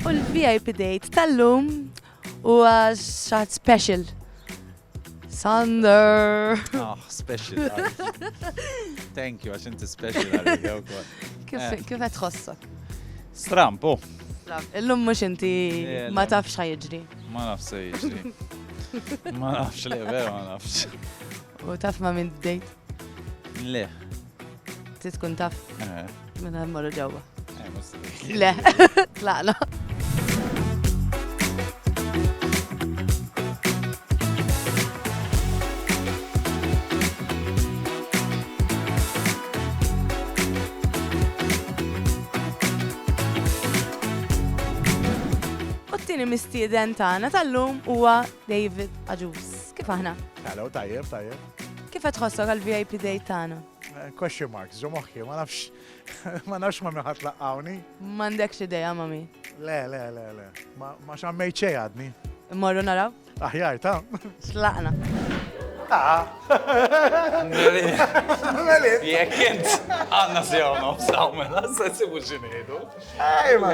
U l-VIP date tal-lum u xaħat special. Sander! Ah, special. Thank you, għax inti special. Eh. Kif għed tħossok? Stramp, oh. Illum mux inti eh, ma tafx ħajġri. Ma nafx ħajġri. Ma nafx li vera ma nafx. U taf ma minn bdejt? Le. Ti tkun taf? Eh. Minn għal marru ġewwa. Eh, Le, tlaqna. U t-tini mistieden tagħna tal-lum huwa David Aġus. Kif aħna? Hello, tajjeb, tajjeb. Kif qed tħossok għal-VIP date tagħna? Eh, question mark, ġo moħħi, ma nafx, ma nafx ma miħat laqqawni. M'għandekx idea, mami. Le, le, le, le. Ma xammej ċej għadni. Morru naraw? Aħjar, ta. Xlaqna. Ta. Melit. Jek int, għanna sjaw nofsaw, mela, s-sessibu ġinidu. Ej, ma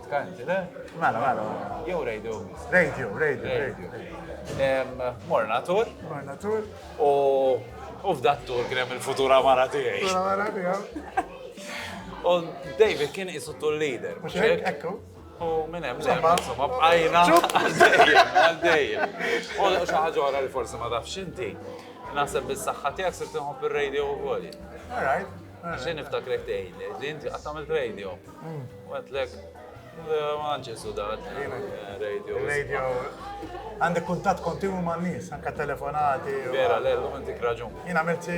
Kanti, le? Mela, mela. Jew radio. Radio, radio, radio. Morna tur. Morna tur. U u f'dat tur kien hemm il-futura mara tiegħi. Futura mara tiegħu. U David kien isu tur leader. Ekku. U minn hemm insomma, insomma, bqajna għaddejjem, għaddejjem. U xi ħaġa oħra li forsi ma tafx inti, naħseb bis-saħħa tiegħek se tinħobb ir-radio wkoll. All right. Xejn niftakrek tgħidli li inti qatt għamilt radio. Mm. U għedtlek, ma nċessu dat, radio. Radio. Għandek kuntat kontinwu ma' nies, anka telefonati. Vera, l-ellu għandik raġun. Jien għamilt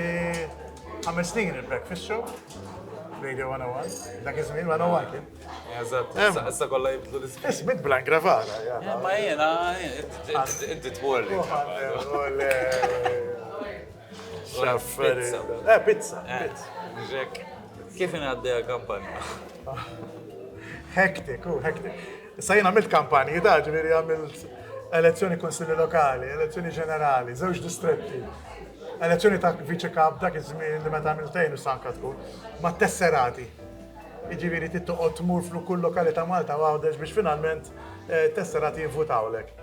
għamil snin il-breakfast show. Radio 101, dak iż-żmien 101 kien. Eżatt, issa kollha jibdlu l-isem. Ismit bla gravara. Ma jiena, inti tmorli. Xafferi. Eh, pizza. Ġek. Kif inaddeja kampanja? Hektik, u hektik. Issa jien għamilt kampanji da, ġviri għamilt elezzjoni konsilli lokali, elezzjoni ġenerali, żewġ distretti, elezzjoni ta' viċi kap dak iż-żmien li meta għamiltejn u sanka tkun, ma tesserati. Iġifieri tittoqgħod tmur fl kull lokali ta' Malta għawdex biex finalment eh, tesserati jivvutawlek.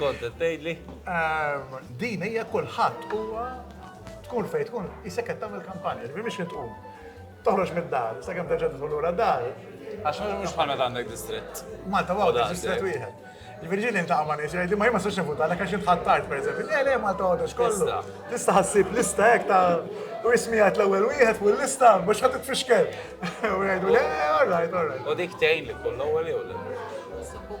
Kont qed tgħidli? Ehm, din hija kulħadd huwa tkun fejn tkun isek qed tagħmel kampanja, ġifieri biex tqum. Toħroġ mid-dar, sa kemm terġa' tidħol lura dar. Għax mhux bħal meta għandek distrett. Malta għawda distrett wieħed. Il-Virġini inta għamma neġi, għajdi ma jimma s-soċna futa, għalek għaxin tħattart, per eżempju, le, le, ma tgħodux kollu. Tista ħassib lista hekk ta' u ismi għat l-ewel wieħed fuq l-lista, mux ħat t-fixkel. U għajdu, le, all right, all right. U dik tejn li kull l-ewel jew l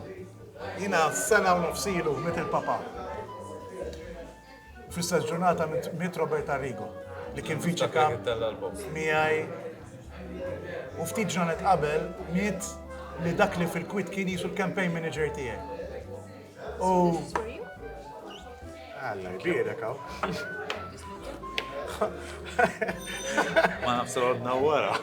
Jiena sena u nofs ilu miet il-Papa. Fl-istess ġurnata miet Robert Arrigo, li kien viċi kap miegħi. U ftit ġranet qabel miet li dak li fil-kwit kien jisu l-campaign manager tiegħi. U Alla jbierek hawn. Ma nafx għodna wara.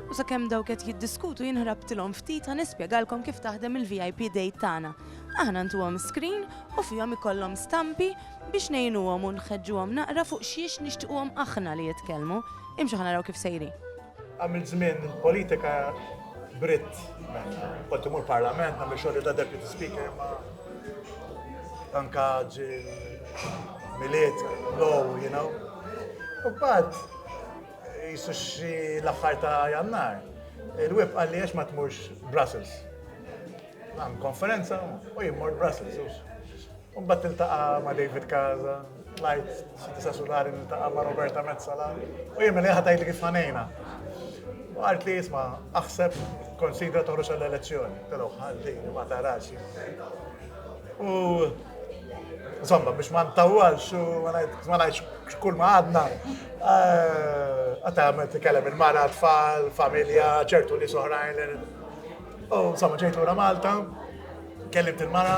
U sakemm dawk qed jiddiskutu jinħrabtilhom ftit ħa nispjegalkom kif taħdem il-VIP date tagħna. Aħna ntuhom screen u fihom ikollhom stampi Biex ngħinuhom u nħeġġuhom naqra fuq xiex nixtiquhom aħna li jitkellmu, imxu ħa naraw kif sejrin. Għamilt żmien politika b'ritt, kont imur parlament nagħmel xogħli ta' deputy speaker imma anka ġil-miliet, low, you know. U bad, jisu xi l-aħħar ta' jannar. Il-web għalli għax ma tmurx Brussels. Għam konferenza u jimmur Brussels. U mbagħad tiltaqa' ma' David Casa, tlajt xi disa' sulari niltaqa' ma' Roberta Mezzala, u jien mela ħadd tgħidli kif ħanejna. U għart li jisma' aħseb konsidra toħroġ għall-elezzjoni. Telgħu ħalli ma tarax. U insomma biex ma ntawwalx u ma ngħidx kull ma għadna għata eh, għamil t-kellem il-mara, tfal, familja, ċertu li soħrajn. U insomma ġejt lura Malta, Kellimt il-mara,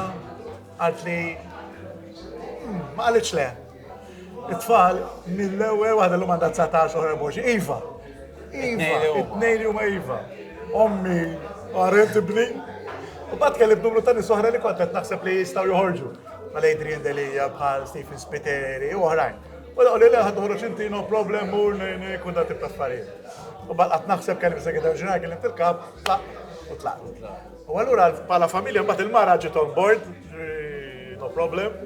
għalt li hmm, ma għalitx le. It-tfal mill-ewwel waħda l-lum għandha 19 oħra boġi. Iva. Iva, it-tnejn huma iva. Ommi, għarret ibni. U bat kellim numru ta' nisohra li kont qed naħseb li jistgħu joħorġu. Mal Adrian Delia bħal Stephen Spiteri u oħrajn. U l li leħad uħru xinti no problem u kun da tibta affarijiet. U baqqa naħseb kelli bisa għedha ġurnal kelli tilkab, tlaq u tlaq. U allura bħala familja mbagħad il-mara ġiet on board, no problem.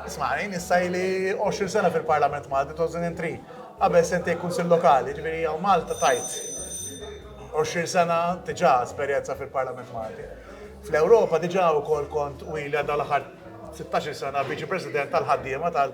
Isma' jien issa ili 20 sena fil-Parlament Malti 2003. Qabel sentej kunsil lokali, ġifieri hawn Malta tajt 20 sena diġà esperjenza fil-Parlament Malti. Fl-Ewropa diġà wkoll kont u ili għadha l-aħħar 16 sena viċi president tal-ħaddiema tal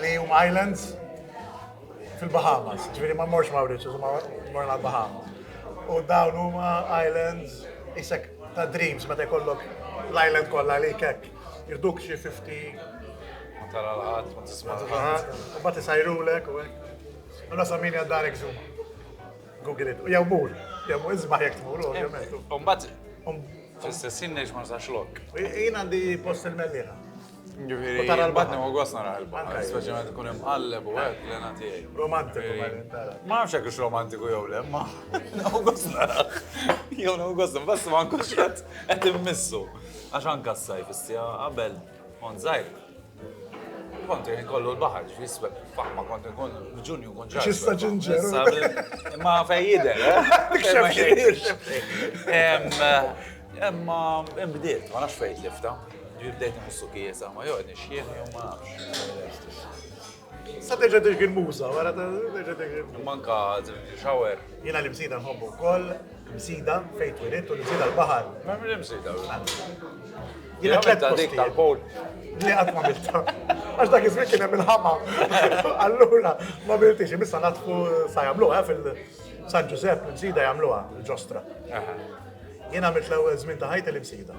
li huma islands fil-Bahamas, ġifieri ma morx Mauritius, ma morna l-Bahamas. U dawn huma islands isek ta' dreams meta jkollok l-island kollha li kek. Jirduk xi 50 ma tara l-ħadd, ma tisma' l-ħadd. U bat isajrulek u hekk. Allora sa min għaddar zoom. Google it. Jew mur, jew mur isma' jekk tmur, ovvjament. Umbagħad fl-istess ħin ngħix ma nsax lok. Jien għandi post il-mellieħa. Ġifiri, u tara l-baħar. U għas nara l-baħar, speċjalment ikun hemm qalleb u għek l-ena tiegħi. Romantiku ma nara. Ma nafx hekk romantiku jew le, ma u għas nara. Jew u għas nara, bas ma nkunx qed qed immissu. Għax anka s-sajf issija qabel on żgħir. Kont jien kollu l-baħar, ġifi sweb faħma kont nkun ġunju kun ġar. Xista ġinġer. Ma fejjide. Xemxie. Imma imbdiet, ma nafx fejt lifta. Ġi bdejt nħossu kiesa, ma joqgħod nixjieħ jew ma nafx. Sa terġa' dik il-muża, wara terġa' dik il-muża. Manka shower. Jiena li msida nħobbu wkoll, msida fejn twilit u li msida l-baħar. Ma minn msida. Jiena tlet dik tal-powl. Li qatt ma milta. Għax dak iż-żmien kien hemm il-ħama. Allura ma miltix, imissa natfu sa jagħmluha eh, fil-San Ġużepp, l-msida jagħmluha, l-ġostra. Jiena mill-ewwel żmien ta' ħajti l-imsida.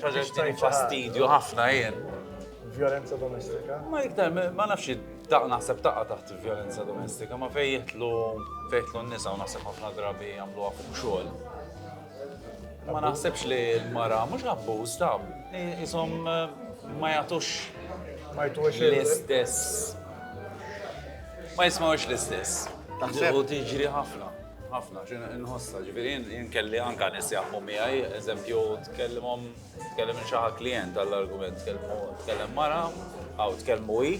Traġettini fastidju ħafna jien. Violenza domestika? Ma iktar, ma nafx daq naħseb taqqa taħt violenza domestika, ma fej jitlu fejtlu n-nisa u naħseb ħafna drabi jagħmlu fuq xogħol. Ma naħsebx li l-mara mhux abbuż ta' isom eh, ma jagħtux ma jtux l-istess. Ma jismawx l-istess. Taħseb u tiġri ħafna. Ħafna, xi nħossha, ġifieri jien kelli anke nies jaħdmu miegħi, eżempju tkellimhom tkellem xi klijent għall-argument, tkellem mara, aw tkellmu hi,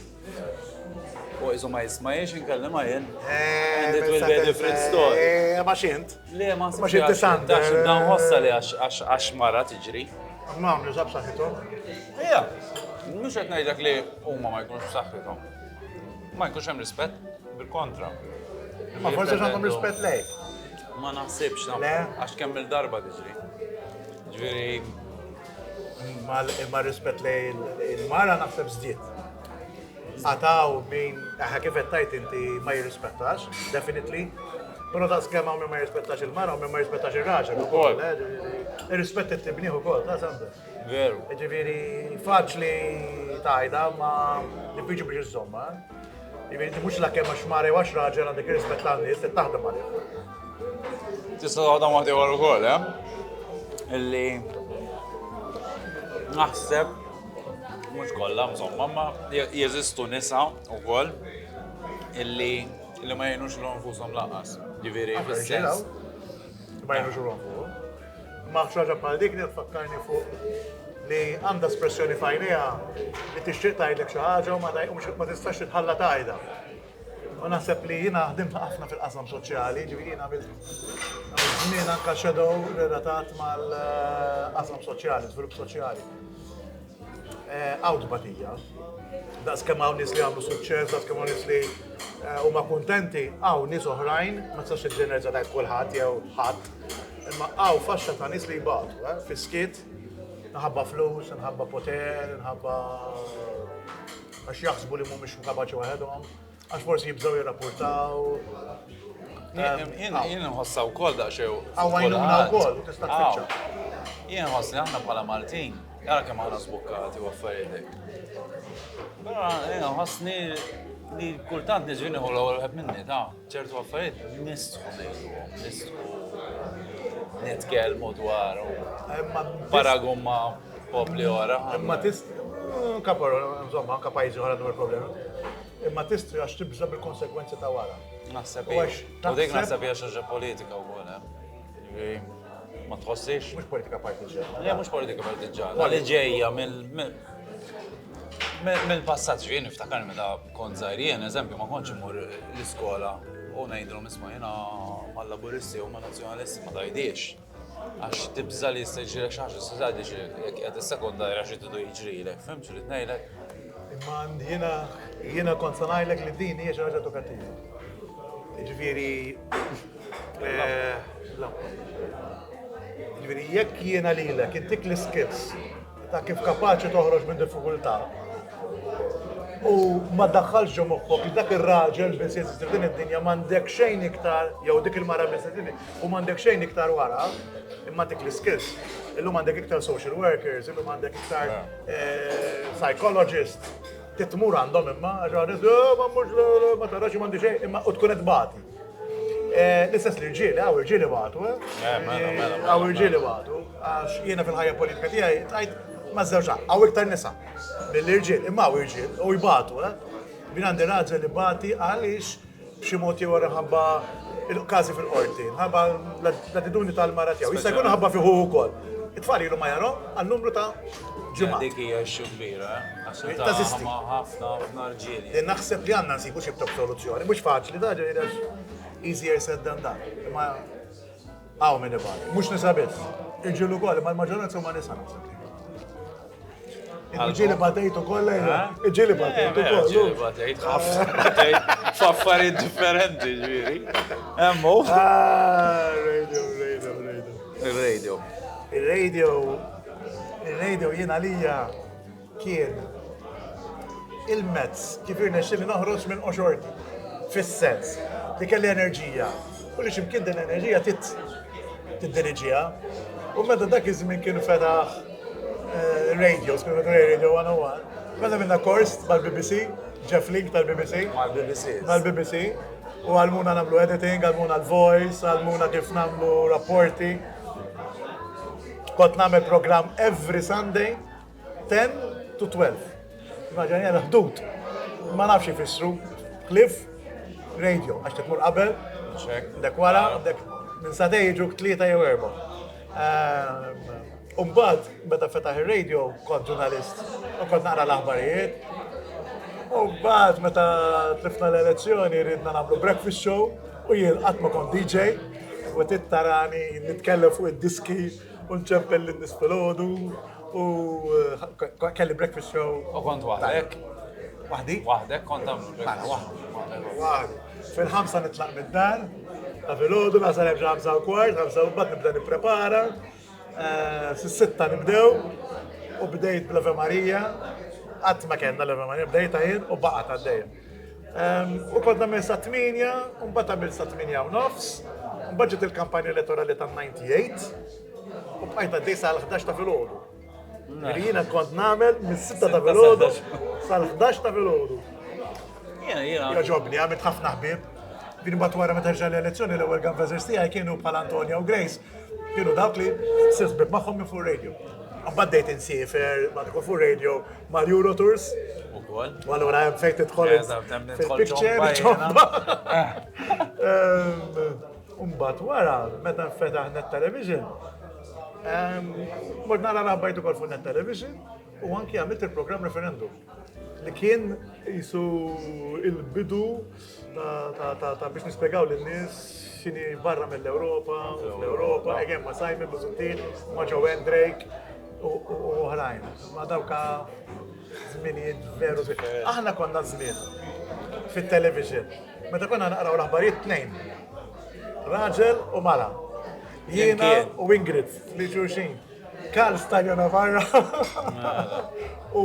u jizu ma jismajiex inkellem għajn. Eh, And it will be a different eh, story. Eh, ma xint. Le, ma xint. Ma xint tisant. Dax dan hossa li għax mara tiġri. Ma għamlu zab saħħithom. Ija, mux għet najdlek li umma ma jkunx saħħithom. Ma jkunx hemm rispett, bil-kontra. Ma forsi għandhom rispett lejk. Ma naħsibx, għax kemm il-darba tiġri. Ġviri. Ma rispett lej il-mara naħseb zdiet. Għataw min, għaha kif tajt inti ma jirrispettax, definitely. Pero ta' skema minn ma jirrispettax il-mara, minn ma jirrispettax il-raġel. Ukoll. Eh, Irrispetti t-tibniħu kol, ta' sanders. Veru. Ġifieri faċli tajda ma diffiċli biex iżommha. Ġifieri inti mhux l-akkem għax mare għax raġel għandek irrispett ta' nies li taħdem għalih. Tista' taħdem waħdi wara wkoll, eh? Illi naħseb mhux kollha mżomma, ma jeżistu nisa wkoll illi li ma jgħinux l-onfushom laqas. Ġifieri fis-sens. Ma jgħinux l-onfushom. Ma nafx ħaġa bħal dik li tfakkarni fuq li għandha espressjoni fajnija li tixtieq tgħidlek xi ħaġa u ma tistax titħalla tajda. U naħseb li jiena ħdimt ħafna fil-qasam soċjali, ġifieri jiena żmien anka shadow relatat mal-qasam soċjali, żvilupp soċjali. Hawn tbatija. Daqs kemm hawn nies li għamlu suċċess, daqs kemm hawn nies li eh, huma kuntenti, hawn nies oħrajn, ma tistax iġġenerġa tajt kulħadd jew ħadd, imma hawn faxxa ta' nies li jbatu, eh, fiskiet, nħabba flus, nħabba poter, nħabba għax jaħsbu li mhumiex kapaċi waħedhom. Għax forsi jibżaw jirrapportaw. Jien nħossa u koll daqxew. Għawajnuna u koll, u tista' tfittxa. Jien nħoss li aħna bħala Maltin, għara kemm aħna sbukkati u affarijiet. Però jien nħossni li kultant nġvini u l-għol għed minni, ta' ċertu affarijiet, nistħu nejdu, nistħu nitkelmu dwar u paragumma popli ora. Imma tist, kapar, insomma, kapajzi ora dwar problemi. Imma tistri għax tibża' bil-konsegwenzi ta' wara. Naħseb hi. U dik naħseb hija xi ħaġa politika wkoll, eh? Ma tħossix? Mhux politika partiġġana. Le, mhux politika partiġġana. Li ġejja mill mill-passat xi niftakar meta kont żgħir jien, eżempju, ma kontx imur l-iskola u ngħidlhom isma' jiena mal-Laburisti u ma' Nazzjonalisti ma tajdiex. Għax tibża' li jista' jiġrilek xi ħaġa, s-sura tgħid li jekk qiegħed issekonda jara xi tidu jiġrilek. Fhimt x'rid ngħidlek? Imma jiena jiena kont se ngħidlek li din hija xi ħaġa edukattiva. Jiġifieri eh, jiġifieri jekk jiena lilek intik l-iskills Ta' kif kapaċi toħroġ minn diffikultà. U ma daħħalx ġo moħħok li dak ir-raġel biss jeżisti f'din id-dinja m'għandek xejn iktar jew dik il-mara biss u m'għandek xejn iktar wara imma dik l-iskills. Illum għandek iktar social workers, illum għandek iktar eh, psychologist, titmur għandhom imma, għaxħanet, eh, ma mux, ma tarax, ma xejn, imma u tkun edbati. Eh, l-istess li rġieli, għaw rġieli batu, eh? eh, mela, eh, mela, għaw mela, rġieli batu, għax jiena fil-ħajja politika tijaj, għajt ma' zewġa, għaw iktar nisa, mill-irġiel, imma għaw irġiel, u jbatu, min għandi raġel li bati għalix b'xi mod jew ħabba il-każi fil-qorti, ħabba l-attitudni tal-mara tiegħu. Jista' jkun ħabba fiħu wkoll. It-tfal ilu ma jarhom għal numru ta' Ġimgħa. Dik hija xi kbira, Tażisti. Ħafna ħafna rġieli. Li naħseb li għandna nsibu xi btok soluzzjoni, mhux faċli da ġej easier said than done. Imma hawn min ibgħal, mhux nisa biss. Iġilu wkoll, ma l-maġġoranza huma nisa naħseb. Iġili batejtu kollha eh? iġili batejtu eh, kollu. Iġili batejt ħafna f'affarijiet differenti ġieri. Hemmu. Ah, radio, radio, radio. Il-radio. Il-radio Ir-radio jien għalija kien il-mezz kif irnexxieli noħroġ minn qoxorti, fis-sens li kelli enerġija u li x'imkien din l-enerġija trid tiddiriġiha. U meta dak iż-żmien kien fetaħ eh, radio, skunu radio 101, meta minna kors mal-BBC, Jeff Link tal-BBC. Mal-BBC. Mal-BBC. U għalmuna namlu editing, għalmuna l-voice, għalmuna kif namlu rapporti. Kont nagħmel programm every Sunday 10 to 12. Immaġinja l-ħdud. Ma nafx ifissru. Cliff, radio, għax tmur qabel, dek wara, dek minn sadej ġuk tlieta jew erba. Ehm, Umbat, meta fetaħ il-radio, kont ġurnalist, u kont naqra l-aħbarijiet. Umbat, meta tlifna l-elezzjoni, ridna namlu breakfast show, U jien qatt ma kont DJ, u tit tarani nitkellem fuq id-diski u nċempel lin-nies filgħodu u kelli breakfast show. U kont waħdek? Waħdi. Waħdek kont tagħmlu breakfast show? Waħdi. Waħdi. Fil-ħamsa nitlaq mid-dar, ta' filgħodu nasal hemm xi ħamsa u kwart, ħamsa u mbagħad nibda nipprepara, Eh, Fis-sitta nibdew u bdejt bl-Ave Marija, qatt ma kellna l-Ave Marija, bdejt għajn u baqgħet għaddejja. Ehm, u kont nagħmel sa' 8, u mbagħad għamil sa' 8 u nofs, u mbagħad ġiet il-kampanja elettorali tan-98, u bqajt għaddej sa' l-11 ta' filgħodu. Jiena kont nagħmel mis-6 ta' filgħodu sa' l-11 ta' filgħodu. Jaġobni, għamilt ħafna ħbib. Din bat wara meta ġa l-elezzjoni l-ewwel gambazers tiegħi kienu bħal Antonio u Grace. kienu dawk li sisbib magħhom minn fuq radio. Għabad dejt insifer, ma tkun fuq radio, ma l-Euro Tours. U kol. U għallura jem fejt tħol. Fil-picture, ċomba. Umbat wara, meta fetaħ net television, mort nara rabbajtu kol fuq net television, u anki għamilt il-program referendum li kien jisu il-bidu ta' biex nispjegaw lin-nies x'inhi barra mill-Ewropa u fl-Ewropa, again ma' Simon Busuttil, ma' Joanne Drake u oħrajn. Imma dawk żminijiet veru differenti. Aħna konna żmien fit-television meta konna naqraw l-aħbarijiet tnejn, raġel u mara. Jiena u Ingrid li xulxin. Karl Stajona barra u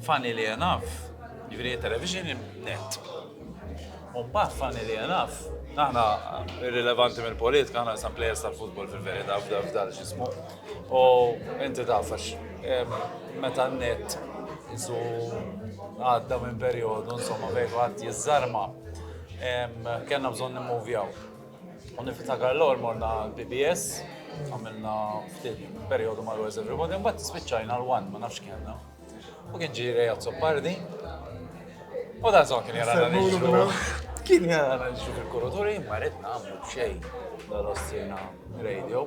Funnily enough, jiġifieri it-television net. U mbagħad funnily enough, aħna irrilevanti mill-politika, aħna sa plejers tal-futbol fil-verità f'dal x'ismu. U inti taf għax meta n-net isu għadda minn perjodu insomma fejn għad jiżarma, kellna bżonn nimmovjaw. U niftakar l-ewwel morna l-BBS, għamilna ftit perjodu ma' Where's Everybody, mbagħad spiċċajna l-one, ma nafx kellna. U kien ġiri Reja Zoppardi. U da zon kien jara nixxu. Kien jara nixxu fil-kuruturi, ma rrid nagħmlu xejn. Dal-ostina radio.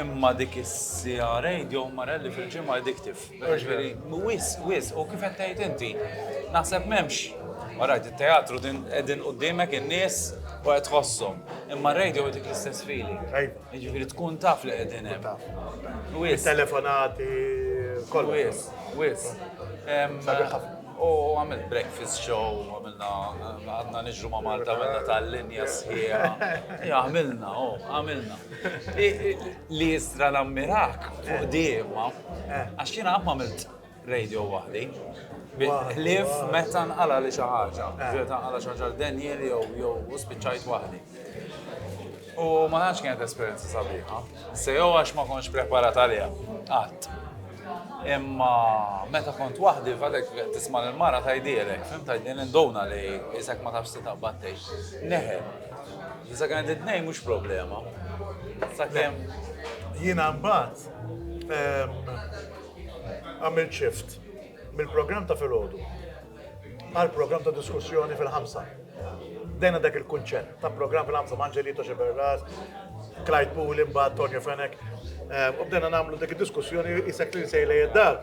Imma dik is-siegħa radio Marelli fil-ġimgħa addictive. Jiġifieri wis, wis, u kif qed tgħid inti, naħseb m'hemmx. Orajt, it-teatru din qegħdin qudiemek in-nies u qed tħosshom. Imma r-radio jtik l-istess feeling. Iva. Jiġifieri tkun taf li qegħdin hemm. Wis. Telefonati, kollu. Wis, wis. U għamilt breakfast show, għamilna, għadna nġru ma' Malta, għamilna tal-linja sħiħa. Għamilna, għamilna. Li jistra nammirak fuq di, ma. Eh. Għax jina għamma milt radio wahdi. Ħlif meta nqala li xi ħaġa, eh. ġiet nqala xi ħaġa Daniel jew jew spiċċajt waħdi. U ma nafx kienet esperjenza sabiħa. Se jew għax ma kontx preparat għaliha. Qatt. Imma meta kont waħdi fadek tisma' l-mara tajdielek, fim tajdin induna li isek ma tafx titaqbad tgħix. Neħel. Sakemm it-tnejn mhux problema. Sakemm. Jiena mbagħad għamil ċift mill-programm ta' filgħodu għal programm ta' diskussjoni fil-ħamsa. Dejna dak il-kunċett ta' programm fil-ħamsa Manġelito Xeberras, Clyde Pool, imbagħad Tonio Fenek. U bdejna nagħmlu dik id-diskussjoni jisek li nsejlej id-dar.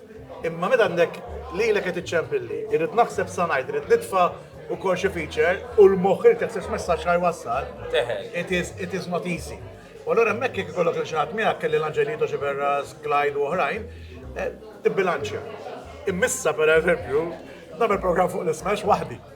Imma meta għandek lilek qed iċċempilli, irrid naħseb sa ngħid, irrid nitfa' ukoll xi feature u l-moħħ irid jaħseb x'messaġġ ħa jwassal. Teħel. It is, it is not easy. U allura hemmhekk jekk ikollok lil xi ħadd miegħek kelli l-Angelito Xiberras, Clyde u oħrajn, eh, tibbilanċja. Immissa pereżempju, nagħmel programm fuq l-ismash waħdi.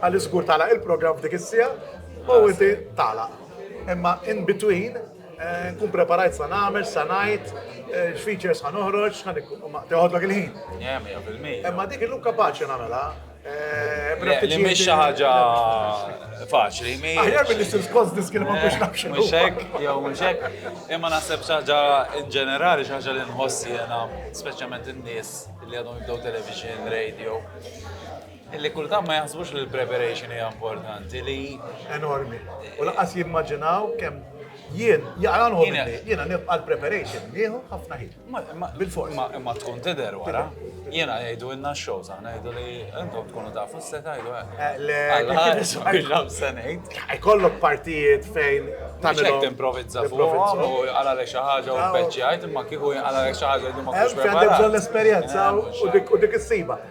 Għaliex żgur tagħlaq il-programm f'dik is-siegħa u ah, inti tagħlaq. Imma in between eh, nkun preparajt sa nagħmel, sa ngħid, eh, features ħan uħroġ, ħan teħodlok il-ħin. Imma dik il-lum kapaċi nagħmelha. Eh, li mhix xi ħaġa faċli. Aħjar billi ssir skos diskil ma biex nafx. Mhux hekk, jew mhux hekk. Imma naħseb xi ħaġa in ġenerali xi ħaġa li nħossi jiena, speċjalment in-nies li għadhom jibdew television, radio. Li kultant ma jaħsbux li l-preparation hija importanti li. Enormi. U laqas jimmaġinaw kemm jien jaqranħu minni, jiena nibqa' l-preparation nieħu ħafna ħin. Bil-fors. Ma tkun tidher wara. Jiena jgħidu inna x-show sa ngħidu li intom tkunu tafu se tgħidu hekk. Eh, eh, le, ħares biex se ngħid. Ikollok partijiet fejn tagħmel timprovizza fuqhom u għala lek xi ħaġa u peċċi għajt imma kieku għala lek xi ħaġa li ma kienx. Għandek bżonn l-esperjenza u dik is-siba.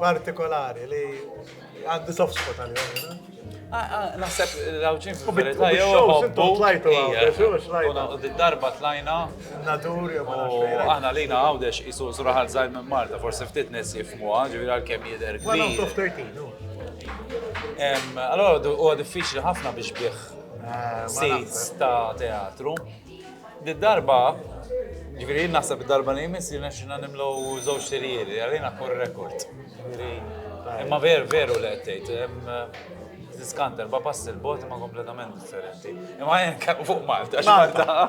partikolari li għandi soft spot għal-jom. Naħseb l-għawġin fil-verita jew għobbu. U d-darba tlajna. Nadur jew Aħna lina għawdex jisu zuraħal zaħi minn Marta, forse ftit nis jifmu ġivir għal-kem jider. Allora, u diffiċli ħafna biex bieħ seats ta' teatru. Di darba, ġviri, naħseb darba li jmiss li naxxina nimlu żewġ tirijiet, għalina kur rekord. Imma ver, veru li għettejt, diskant erba pass il-bot ma kompletament differenti. Imma jen fuq Malta, Malta,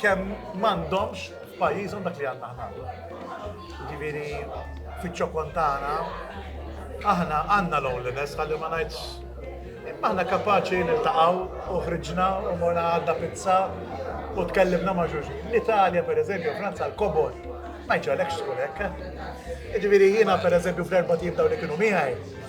kemm m'għandhomx f'pajjiżhom dak li għandna aħna llum. Ġifieri fiċ-ċokon tagħna aħna għandna loneliness ħalli ma ngħidx imma aħna kapaċi niltaqgħu u ħriġna u morna għadda pizza u tkellimna ma' xulxin. L-Italja pereżempju, Franza l-kobor ma jġalekx tkun hekk. Ġifieri jiena pereżempju fl-erba' tim dawn li kienu miegħi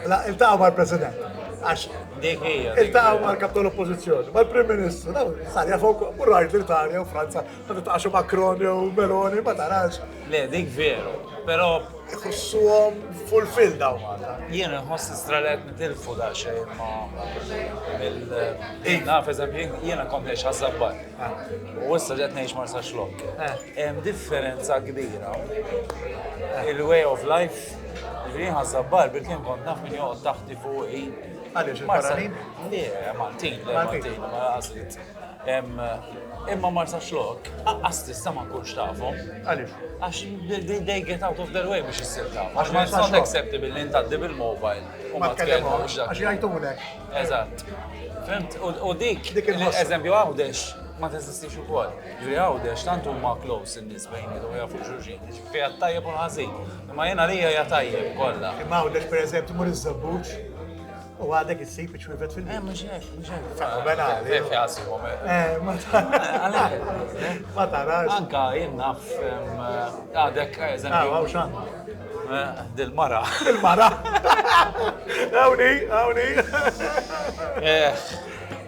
La, il-taw ma' l-President. Għax, dik hija. Il-taw ma' l-kap tal-oppozizjoni, ma' l-Prim Ministru, daw, sarja fuq, u rajt l-Italja u Franza, ta' taqaxu Macron u Meloni, ma tarax. Le, dik veru, pero. Iħossuhom fulfill daw Malta. Jien nħoss istralet nitilfu da xejn ma' il-naf, eżempju, jiena kont nex ħazzabbar. U issa ġet nex marsa xlok. Hemm differenza kbira. Il-way of life Ġifieri jien ħassab Barbir kien kont naf min joqgħod taħti fuqi. Għaliex il-Barranin? Le, Maltin, le Maltin, ma għażlit. Imma Marsa Xlok, aqqas tista ma kunx tafhom. Għaliex? Għax they get out of their way biex issir taf. Għax ma it's not acceptable li ntaddi bil-mobile. U ma tkellmux. Għax jgħajtulek. Eżatt. Fimt, u dik, eżempju għawdex, ma teżistix ukoll. Ġri għawdex, tant huma close in-nies bejn u jafu xulxin. Fiha t-tajjeb u l-ħażin. Imma jien għalija hija tajjeb kollha. Imma hawnhekk pereżempju tmur iż-Żebbuġ u għadek issib iċ-ċwievet fil-ħin. Eh, mhux hekk, mhux hekk. Sa, mela, eh, eh, fiha sibhom. Eh, ma tarax. Ma tarax. Anka jien naf għadek eżempju. Ah, x'għandna. Dil-mara. Dil-mara. Għawni, għawni.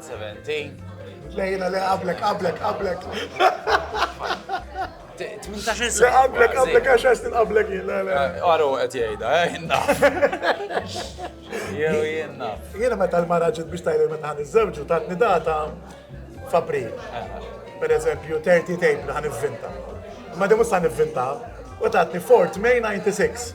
17. Lejla li qablek, qablek, qablek. 18 sena. Qablek, qablek, għax għax qablek jien. Għaru eh, għet jgħida, eh, jenna. Jew jenna. Jena meta l-mara ġit biex tajli meta għan iż-żewġu tatni data f'April. Per eżempju, 30 tape għan ivvinta. Ma dimu sa' nivvinta, u tatni Fort May 96.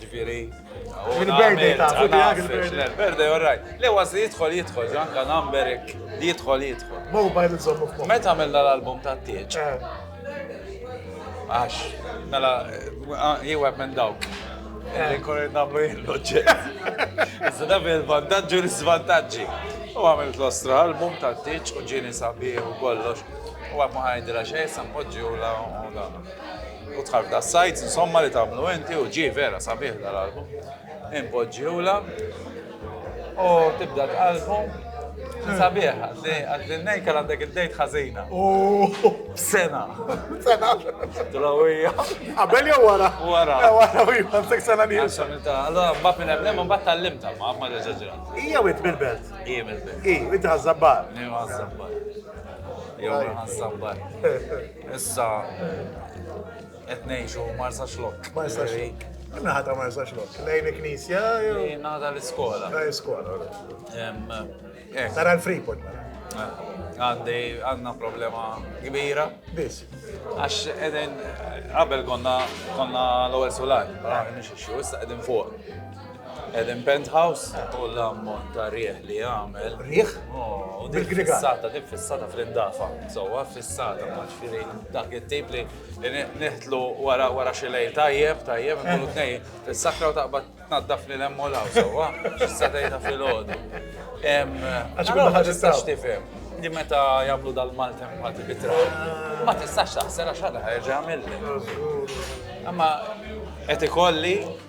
Ġifieri. Il-birthday ta' il-birthday, all right. Le was li jidħol jidħol, ġanka numberik li jidħol jidħol. Mobile iżommu fuq. Meta għamilna l-album ta' tieċ? Eh. Għax, mela, eh, jeweb minn dawk. Illi eh. korri namlu jillu ġej. Zda bil-vantaġġu l-svantaġġi. U għamilt l-ostra album ta' tieċ u ġini sabiħ u kollox. U għab maħajdra xej, sampoġġi u la u la. u tħarf da sajt, insomma li tamlu inti u ġi vera sabiħ dal-album. Impoġġiwla u tibda tqalbu sabiħ għaddi nejka għandek id-dejt ħazina. Sena. Sena. Drawija. Għabel jew wara? Wara. Wara u jibqa sek sena li. Allora mbagħad minn hemm hemm mbagħad tallimta ma ma deġaġrat. Hija wit mill-belt. Hija mill-belt. Hi, wit ħażabbar. Hija ħażabbar. Jew ħażabbar. Issa qed ngħixu Marsa Xlok. Marsa Xlok. Naħata Marsa Xlok. Lejn il-knisja jew? Naħata l-iskola. Ta' l-iskola. Eh. Tara l-Freeport. Mela. Eh għandi għandna problema kbira. Biss. Għax edin qabel konna konna l-ewwel sular, però nixxu issa qegħdin fuq. Eden Penthouse u l-ammont ta' riħ li għamel. Riħ? U dik fissata, dik fissata fl-indafa. Sowa fissata, ma ġifiri dak it-tip li neħtlu wara wara xilej tajjeb, tajjeb, nkunu tnej, fissakra u taqbad tnaddaf li lemmu law, sowa, fissatejta fil-ħodu. Għax ma tistax tifhem li meta jagħmlu dal-maltem ma tibitra. Ma tistax taħsel għax ħadha ħerġa' mill-li. Amma qed ikolli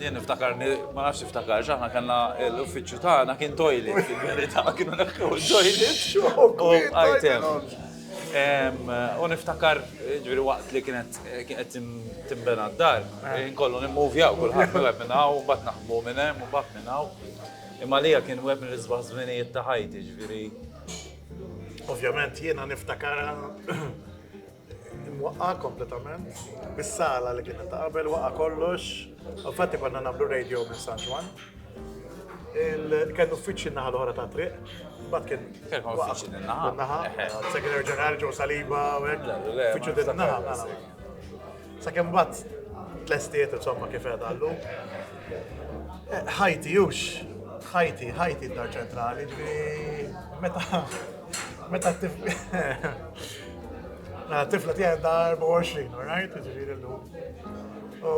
Jien niftakar, ma nafx tiftakar, aħna kellna l-uffiċċju tagħna kien toilet fil-verità, kienu neħħu toilet. U għajtem. U niftakar, ġviri waqt li kienet kienet timbena d-dar, nkollu nimmuvjaw kullħat minn web minn hawn, bat naħbu minn hemm u bat minn hawn. Imma li kien web minn l-isbaħ żminijiet ta' ħajti, ġviri. Ovvjament jiena niftakar Imwaqqa' kompletament, bis-sala li kienet ta' qabel waqa' kollox. Infatti konna nagħmlu radio minn San Ġwann. Kien uffiċċju n-naħa l-oħra tat-triq, mbagħad kien. Kien uffiċċju din naħa. Naħa, segretarju ġenerali ġew saliba u hekk. Uffiċċju din naħa. Sakemm mbagħad tlestiet insomma kif qed għallu. Ħajti hux, ħajti, ħajti d-dar ċentrali, ġifieri meta Meta Mela tifla tiegħi da 24, alright, ġifieri llum. U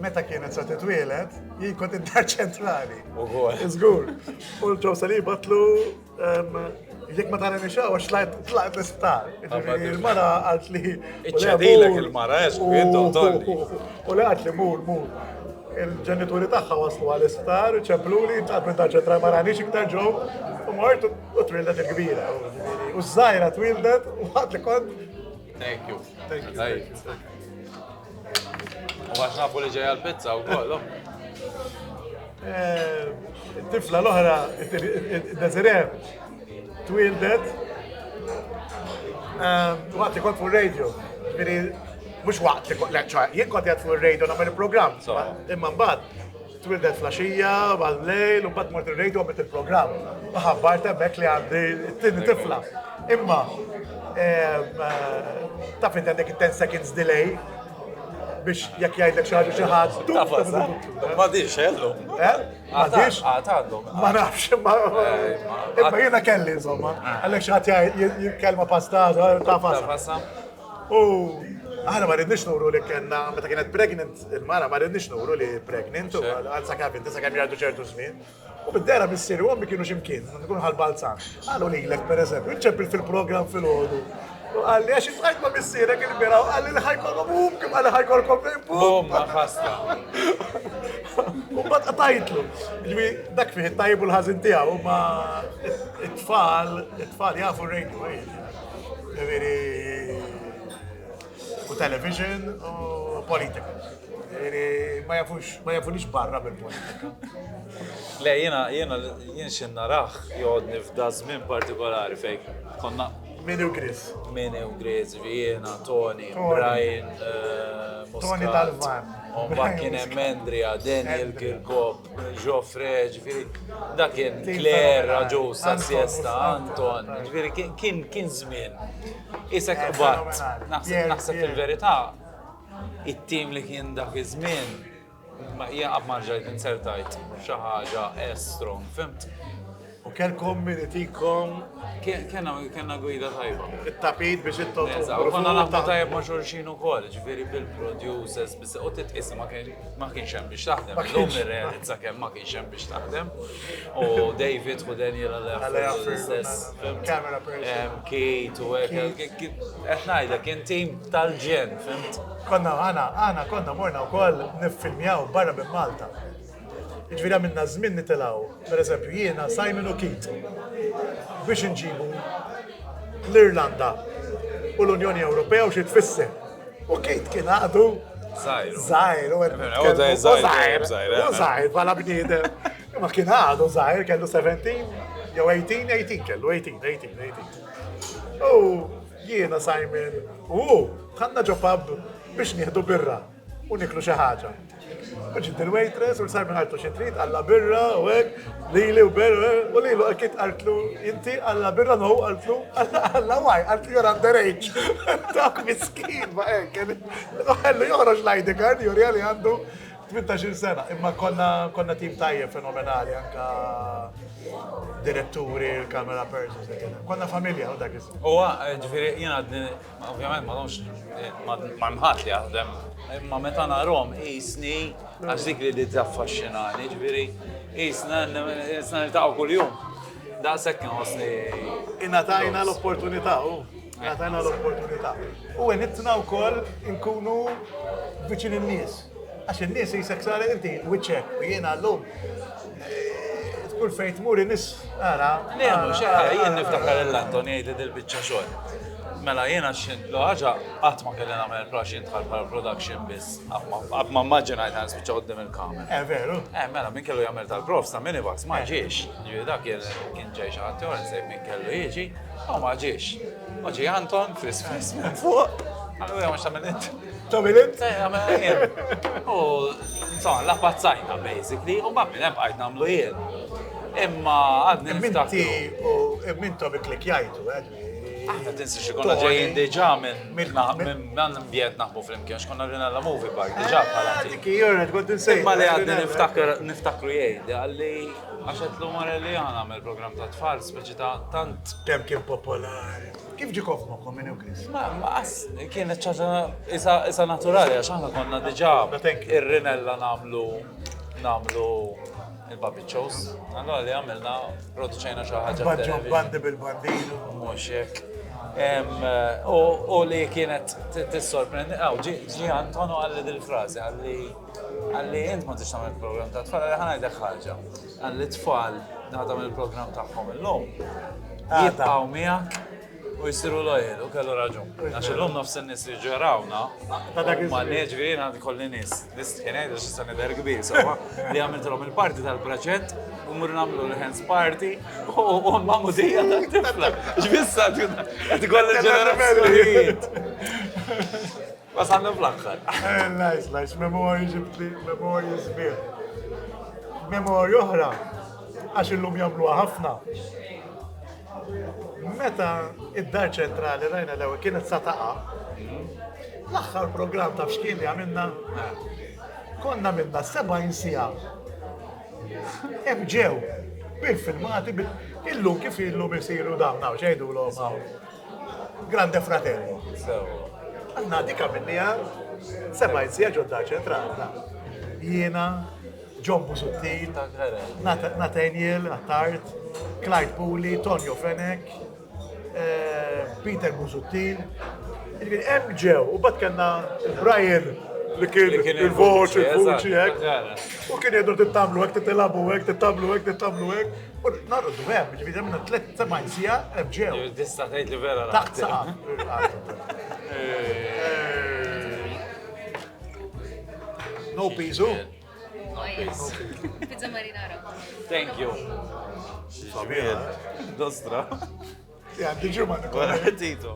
meta kienet sa titwielet, jien kont id-dar ċentrali. Ugur. Żgur. U l-ġew sali batlu jekk ma tara nixaw għax tlaqt tlaqt l-isptar. Ġifieri il-mara għalt li. Iċċadilek il-mara, eżgur, intom U li għalt li mur, mur. Il-ġenituri tagħha waslu għal isptar, ċempluli, intlaqt minn daċċa tra maranix iktar ġew, u mort u twildet il-kbira. U żgħira twildet u ħadd li kont. Thank you. Thank you. U għax nafu li ġejja l-pizza u kollu. Eh, tifla l-oħra, id-dezirer, Twildet eh, waqt li kont fuq radio, ġifieri mhux waqt li kont leċċa, jien kont qed fuq radio nagħmel il-programm, imma mbagħad twildet flaxija, għal-lejl, u bat mort il-radio għabet il-program. Maħabbar temmek li għandi t-tini tifla. Imma, eh, ta' fint għandek 10 seconds delay, biex jekk jgħidlek xi ħaġa xi ħadd. Tafas, ma diġ xellu. Eh? Għadix? Għad għandhom. Ma nafx, ma. Imma jena kelli, insomma. Għallek xaħat jikkelma pasta, ta' pasta. U Għana ma rridnix nuru li kena, meta kienet pregnant il-mara, ma rridnix nuru li pregnant, u għal sakab inti sakab jgħaddu ċertu żmien. U bid-dera missiri u għammi kienu ximkien, nkun ħal-balzan. Għallu li l-ek, per eżempju, ċempil fil-program fil-ħodu. U qalli għax iltqajt ma' missierek il-bira u qalli li ħajkollhom hum kif qalli ħajkollkom lejn bum. Bomba ħasta. U ma tqatajtlu. Ġifi, dak fih it-tajb u l-ħażin tiegħu ma it-tfal, it-tfal jafu radio eh. Ġifieri u television u politika. Ġifieri ma jafux ma jafunix barra mill-politika. Le, jiena jiena jien xi naraħ joqgħodni f'da żmien partikolari fejn konna Min hu Grizz? Min hu Grizz, Vienna, Tony, Brian, eh, Tony Dalvan. Umbat kien hemm Andrea, Daniel Kirkop, Joffre, ġifieri dak kien Claire, Raġu, Sassiesta, Anton, ġifieri kien kien żmien. Isek eh, qbad, naħseb il-verità, it-tim li kien dak iż-żmien Ma hija qatt ma rġajt inzertajt f'xi ħaġa as strong, fimt? U kellkom min itikom. Kena, kena gwida tajba. It-tapit biex it-tot. U konna naħmu tajba ma' xorxin u koll, ġviri bil-producers, bis u titqis ma kienx hemm biex taħdem. L-lum irrealizza kemm ma kienx hemm biex taħdem. U David u Daniel għal-għafru l-istess. Camera person. Kate u għek. Etnajda, kien tim tal-ġen, fimt? Konna aħna, aħna konna morna wkoll niffilmjaw barra minn Malta. Jiġifieri għamilna żmien nitilgħu, pereżempju jiena, Simon u Keith, biex inġibu l-Irlanda u l-Unjoni Ewropea u xi tfisser. U Keith kien għadu Zajr. Zajr, u għed. U zajr, zajr, zajr. U zajr, bħala bniedem. Ma kien għadu zajr, kellu 17, jew 18, 18 kellu, 18, 18, 18. U Jiena, Simon u hu dħalna ġo pub biex nieħdu birra u niklu xi ħaġa. U ġiet il-waitress u l-Simon għaltu xi trid għalla birra u hekk, lili u birra u lilu hekk kif qaltlu inti għalla birra no qaltlu għalla waj qaltlu you're underage. Dak miskin ma hekk. Ħellu joħroġ l-ID card juri li għandu Tmintax-il sena, imma konna konna tim tajjeb fenomenali anka diretturi, l-camera persons li kien hemm. Konna familja u dak iż Huwa, ġifieri jien għadni, ovvjament ma domx ma' hemm ħadd li jaħdem, imma meta narahom qisni għax dik li li taffaxxinani, ġifieri qisna qisna niltaqgħu kuljum. Daqshekk inħossni. Ingħatajna l-opportunità, u ngħatajna l-opportunità. U għenitna wkoll inkunu viċin in-nies. Għax in-nies jisek sar inti wiċċek u jiena llum eh, kull fejn tmur in-nies ara. Nehmu xaħar jien niftakar l-Anton jgħid li dil-biċċa xogħol. Mela jiena xint l ħaġa qatt ma kelli nagħmel prax intħal bħal production biss. Qatt ma immaġinajt għan spiċċa qudiem il-kamera. Eh veru. Eh mela min kellu jagħmel tal-profs ta' minivax ma eh. ġiex. Ġifieri dak kien ġej xi ħadd jor insejb min kellu jiġi, u ma ġiex. Oġi Anton fis fis minn fuq. Għallu jgħamx ta' minn Two minutes? U, insomma, la pazzajna, basically, u ma minn bqajt namlu jien. Imma għadni Minti u mintu bi klik jajtu, għadni. Eh, Aħna tinsi xikonna ġejjin diġa minn minn bjent naħbu fl-imkien, xkonna rina la movie park diġa eh, bħala. Diki, jorret, għod nsej. Imma li għadni niftakru jgħid, għalli għaxet l-umar li għana għamil program ta' tfal, speċi ta' tant. Kem kien popolari. Kif ġiek f'moħħkom minn Euclid? Ma, ma qas kienet ċaġa isa, isa naturali, għax aħna konna diġà ir-rinella namlu namlu il-babiċċos. Allora li għamilna produċejna xi ħaġa. Baġġo bandi bil-bandinu. Mhux hekk. U li kienet tissorprendi, għaw, ġi Antonu għalli dil-frazi, għalli għalli jint ma tix tamil program ta' tfal, għalli ħana jdek ħagġa. Għall-itfal għadhom il-programm tagħhom illum. Jibqgħu miegħek u jsiru lojel u kellu raġun. Għax illum nofs in-nies li ġerawna, ma neġri jiena kolli nies, nies tħinejdu x'issa nidher kbir, sawa li għamiltilhom il-parti tal-proġett u mur nagħmlu l-hands party u ma mudija tal-tifla. X'bissa qed ikoll il-ġenerazzjonijiet. Wasalna fl-aħħar. Lajs, lajs, memorji ġibtli, memorji sbieħ. Memorji oħra, għax illum jagħmluha ħafna. Meta id-dar ċentrali rajna l-ewwel kienet sa taqa. L-aħħar programm ta' xkien li għamilna konna minna 70 sija. Ebġew, bil-filmati, illum kif illum isiru dawn, xejdu l-għom Grande Fratello. Għanna dika minnija, semajt sija ġodda ċentrata. Jiena, John Busuttil, Nathaniel Attard, Clyde Puli, Tonio Fenek, eh, Peter Busuttil. Hemm ġew, u bat kellna Brian li kien il-voċi, il-voċi, u kien jgħidu tittamlu hekk, titilabu hekk, tittamlu hekk, tittamlu hekk. U narqdu hemm, ġifieri hemm minna tliet sebgħin siegħa hemm ġew. Tista' tgħid li vera taħt saqa. No piżu. Pizza marinara. Thank you. Xġmiel. Dostra. Ja, diġu ma' Tito.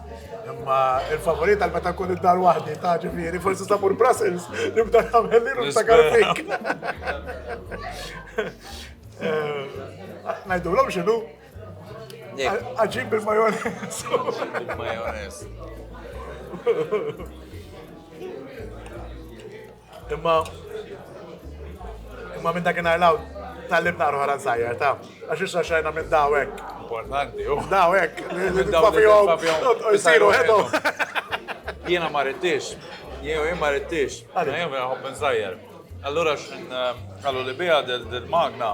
Imma il-favorit għal meta nkun id-dar waħdi ta' ġifieri, forsi sa' mur Brussels, nibda nagħmel li nibda karfik. Najdu l-om xinu? Għagġib bil-majonez. Bil-majonez. Imma imma minn dakinhar l tal-lim naqru ħaran sajjar, ta' għax issa xajna minn dawek. Importanti, u dawek, jisiru ħedu. Jiena ma rridtix, jiena jien ma rridtix, jiena jien nħobb insajjar. Allura x'in eh, għallu li bija dil-magna,